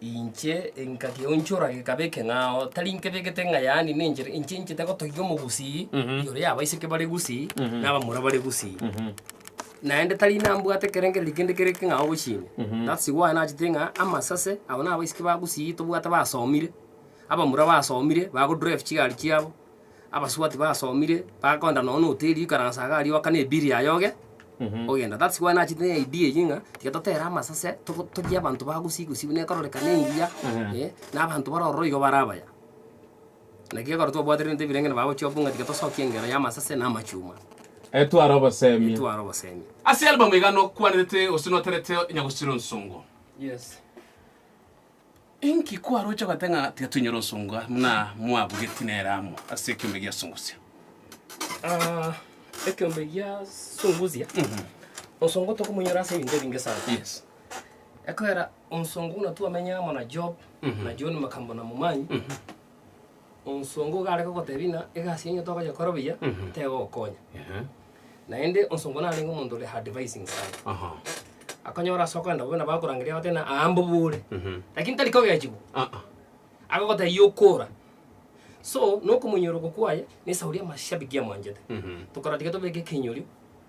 Inche nkageonchora gekaba ekeng'ao, tari inke begete ng'a yaani nenchera, inche inchete gotogia omogusii ore oyo abaiseke bare gusii na abamura bare gusii. Naende tari nambwate ekerengererio kende kere ekeng'ao gochia ime. That's why nachete ng'a amasase abo na abaiseke ba gusii tobwate basomire, abamura basomire, bago drive chigari chiabo. Abasubati basomire bakogenda nonya noteri ikaransa iga aria oakane ebill yaye oge ogenda that's why nachete ne idea eyio ng'a tiga totere amasase togo togie abanto ba gusii gusii buna ekororeka nengiya eh na abanto bare ororo igo bare abaya. Naki ekero twabwatire ebinto ebirengereri bagochia okobua ng'a tiga tosokie engero ya amasase na amachuma Etware obosemi. etware obosemi. Ase album iga nokwanete gose noterete onye gosira ensongo. Yes. Inki kwaroche goteba ng'a tiga toinyore ensongo aa buna mwabugeti nere amo ase ekeombe gia Sunguzia? Ah, ekeombe gia Sunguzia, ensongo tokomonyora ase ebinto ebinge sana. Yes. Ekeogera ensongo buna twamenyire amo na Job, na John Makamba na Momanyi, Onsongo iga are gogotebia ng'a egasi yaino tokoyekora buya, Mhm. tegogokonya. Ehe. Naende onsongo narenge omonto ore advising sana. Aha. Akonyora ase okoenda bobe nabo akorangeria agote ng'a aa mbobore, Mhm. lakini tari kogechigwa, Ah, ah. agogotebia okora. So, nokomoinyorekwa kwaye, na esauri y'amashabiki amwanchete. Mhm. Tokorati iga tobeke ekenyori.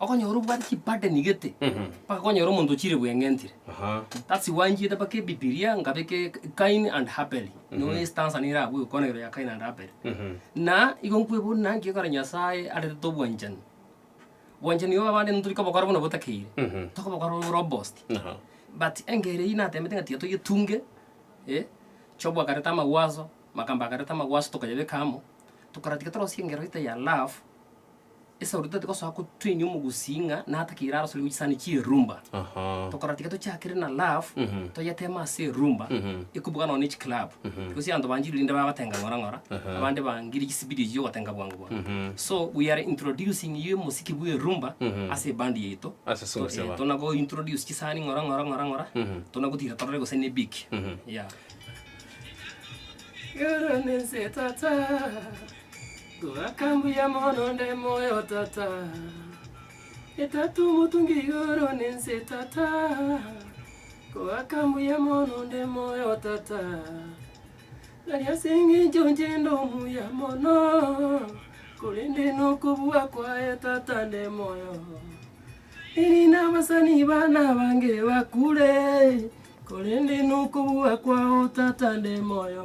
Okonyora obwate chibade nigete mpaka konyora omonto ochire bweng'entire. Aha. That's why nchiete mpaka ebibilia nkabeka eka- Kain and Habel. Noo east answer nere abwo egokonegerwa ya Kain and Habel. Mhm. Na igo nkwebori naki ekero Nyasaye arentete obwanchani, obwanchani obo abande nigo torikobokora buna botakeire, Mhm. tokobokora bore robust. Aha. But engeri eyio natemete ng'a tiga toyetunge, eh, Job akareta amagwaso, Makamba akareta amagwaso tokayabeka amo, tokarora tiga torosie engero ite ya love. Esauti tari gosoa kotwenia omogusii ng'a natakeire arosore chisani chierumba. Aha. Tokora tiga tochakere na love Mhm. toyetema ase erumba Mhm. ekubuga nonya ne chiclub Mhm. because abanto banchire rinde baba batenga ng'ora ng'ora Aha. abande bangire chisibidio echi chiogotenga bwango bwango Mhm. so we are introducing you mosiki bwa erumba Mhm. ase ebandi yaito Ase To- sugusii eh, aba. tona go introduce chisani ng'ora ng'ora ng'ora ng'ora Mhm. tona gotira torore gose ne big Mhm. yeah Igoro nense tata Twakambuya mono onde moyo, Tata. E Tata omotungi igoro na ense, Tata. Twakambuya mono onde moyo, Tata. Nari ase engencho inche nde omuya mono, korende nokobua kwaye, Tata, nde moyo. Erinde abasani bane abange bakure, korende nokobua kwao, Tata, nde moyo.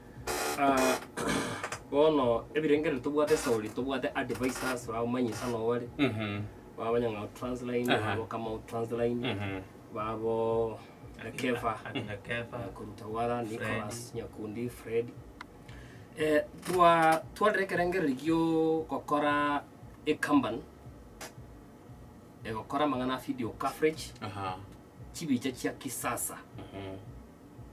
Bono ebirengererio tobwate Sauli tobwate advisors ba manyi sana obare ba abanyang'ao transline ba abokamau transline ba abo Kefa koruta wara Nicholas Nyakundi Fred eh, twa twarire ekerengererio gio gokora ecompany egokora amang'ana a video coverage chibicha chia kisasa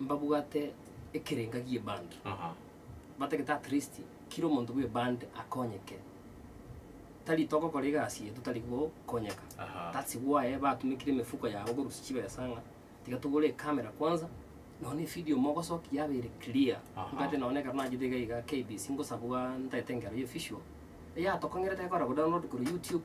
mbabwate ekerenga gie band Aha. batagete at least kira omonto bwe band akonyeke tari togokora egasi eye totari gokonyeka Aha. that's why batumekire emefuko yabo korusia chibesa ng'a tiga togore ecamera kwanza nonye na evideo mogosoki yabeire clear Aha. ntagete nonye na ekero nachete iga iga KBC ngosabwa ntagete engero ya official eyatokong'erete ekora kodownload korwa youtube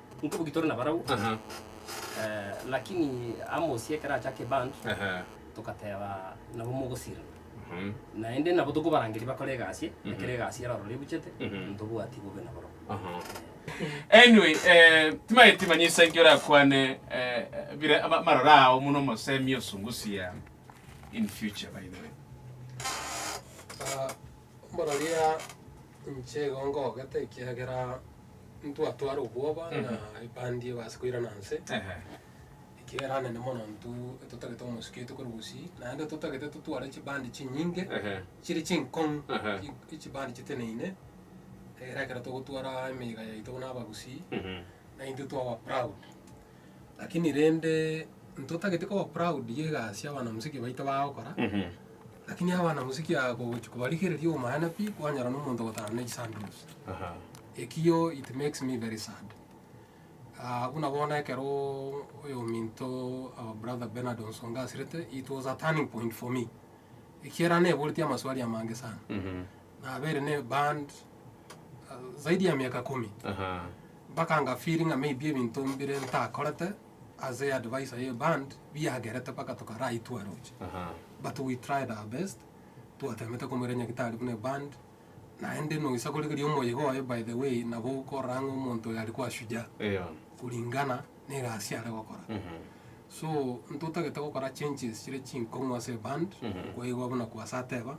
Nkoboki tore nabarabwo Aha. eh, lakini Amosi ekero achaka eband Aha. togateba nabo mogosirana Mhm. naende nabo tokobarangeria bakore egasi Mhm. ekero egasi yarorora ebuchete Mhm. ntobwati bobe naborobwo Aha. Anyway, eh, timaeti manya ase engio orakwane eh, bire ama- amaroro ao muna omosemi osungusia in future by the way. Ah, Mboraria inche igo ngogete, ekiagera ntwatwara obwoba na ebandi ebase koirana inse, Ehe. ekiagera nene mono intwe totagete omosuki oito korwa gusii, naende totagete totware chibandi chinyinge Ehe. chire chinkong'u, Aha. chi- chibandi chiteneine, egere ekero togotwara emeiga yaito buna abagusii, Mhm. naintwe twaba proud. Lakini rende ntotagete koba proud y'egasi y'abana-mosike baito bagokora, lakini abana-mosike aba kogochia kobarigereria obomaene pi, kwanyora na omonto ogotara na echisanduki. Ekio it makes me very sad. Ah, buna bono ekero oyominto our brother Bernard Onsonga asirete, it was a turning point for me, ekiagera neboreti amaswali amange sana. Nabeire ne band zaidi ya miaka kumi. Aha. Mpaka nga feel ng'a maybe ebinto mbire ntakorete as a advisor ye band biagerete mpaka tokaraitwa roche. Aha. But we tried our best twatemete komoira nyagitari buna eband naende noisa korigeria omoyega oye by the way nabo okorora ng'a omonto oyo arikwa shujaa Eyo. kuringana na egasi are gokora Mhm. so ntotagete gokora changes chire chinkong'u ase eband Mhm. kwaigwa buna kwasateba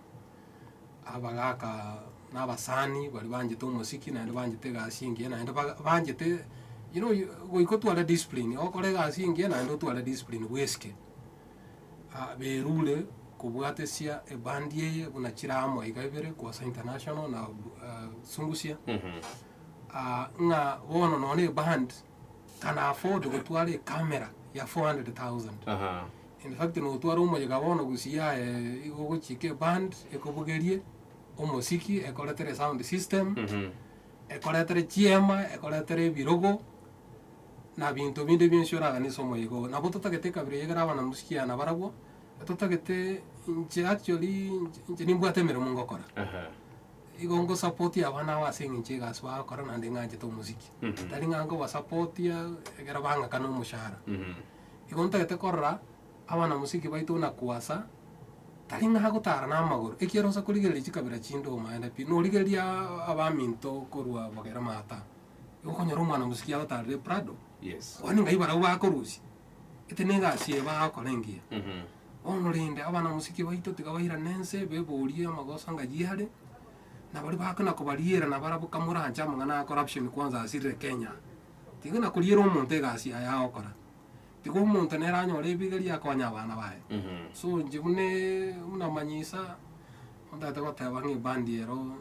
abagaka na abasani baria banchete omosiki naende banchete egasi engiya naende baga banchete you know you goika otware discipline ogokora egasi engiya naende otware discipline bw'esike ah berure kobwatesia ebandi eye buna chire amo iga ibere Kwasa International na bu ah Sungusia. ng'a bono nonye na eband. can afford gotwara e camera ya 400,000 Aha. in fact notware omoyega bono gusiyia eh, igo ogochika eband ekobugerie omosiki ekoretere sound system Mhm. ekoretere chiema ekoretere ebirogo na binto binde bionsi oragane ase omoyega ogo nabo totagete ekabira eyio ekero abana musikiana nabarabwo totagete inche actually inche- inche nimbwate emeremo ngokora Aha. Igo ngosapotie abana aba ase engencho egasi bagokora naende ing'anchete omosiki. Tari ng'a nkobasapotia ekero bang'aka nomoshara. Igo ntagete korora abana mosiki baito buna Kwasa, tari ng'a agotara namagoro, ekiagera osa korigereria chikabira chinde omoende pi, norigereria abaminto korwa bogere maata. Igo okonyora omwana mosiki agotarire Prado, Yes. Kwani ng'ai barabwo bakorusia? Eke negasi eye bagokora engiya. Bono rende, abanamosike baito tiga bairane ense, beborie amagoso anga yiare, na baria bagoka na kobariera na barabwo kamoranche amang'ana ya corruption kwanza asirire Kenya. Tiga na koriera omonto egasi yaye agokora. Tiga omonto nere anyore ebigeria akonye abana baye. So inche buna buna manyisa. Otagete goteba ng'a ebandi ero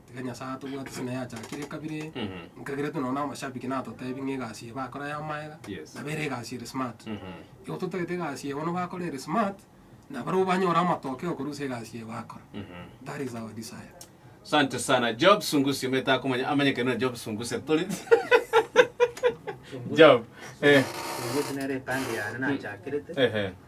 tiga Nyasae atobwate ase naye achakire ekabira eye. Nkagiretwe nonya na amashabiki natotebie ng'a egasi eye bakora yamaega, nabo ere egasi ere smart. Igo totagete egasi eye bono bakora ere smart, na barobwo banyore amatokeo korwa ase egasi eye bakora. That is our desire. Sante sana. Job Sungusi, omanyete akomanya, amanyekane buna Job Sungusi. Tori- Job, eh, Sungusi nere ebandi yane nachakirete, ehe,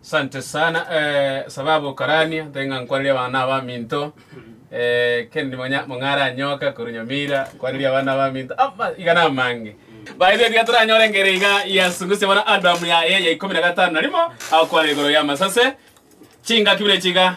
Sante sana sababu okarania ntari ng'a nkwareri abana na abaminto kende nimonya mong'are anyoka korwa Nyamira nkwareri abana na abaminto ama iga na amange baezo tiga toranyore engere iga yasungusia bono album yaye ya ikomi na gatano na rimo agokwana igoro y'amasase chingaki buna chiga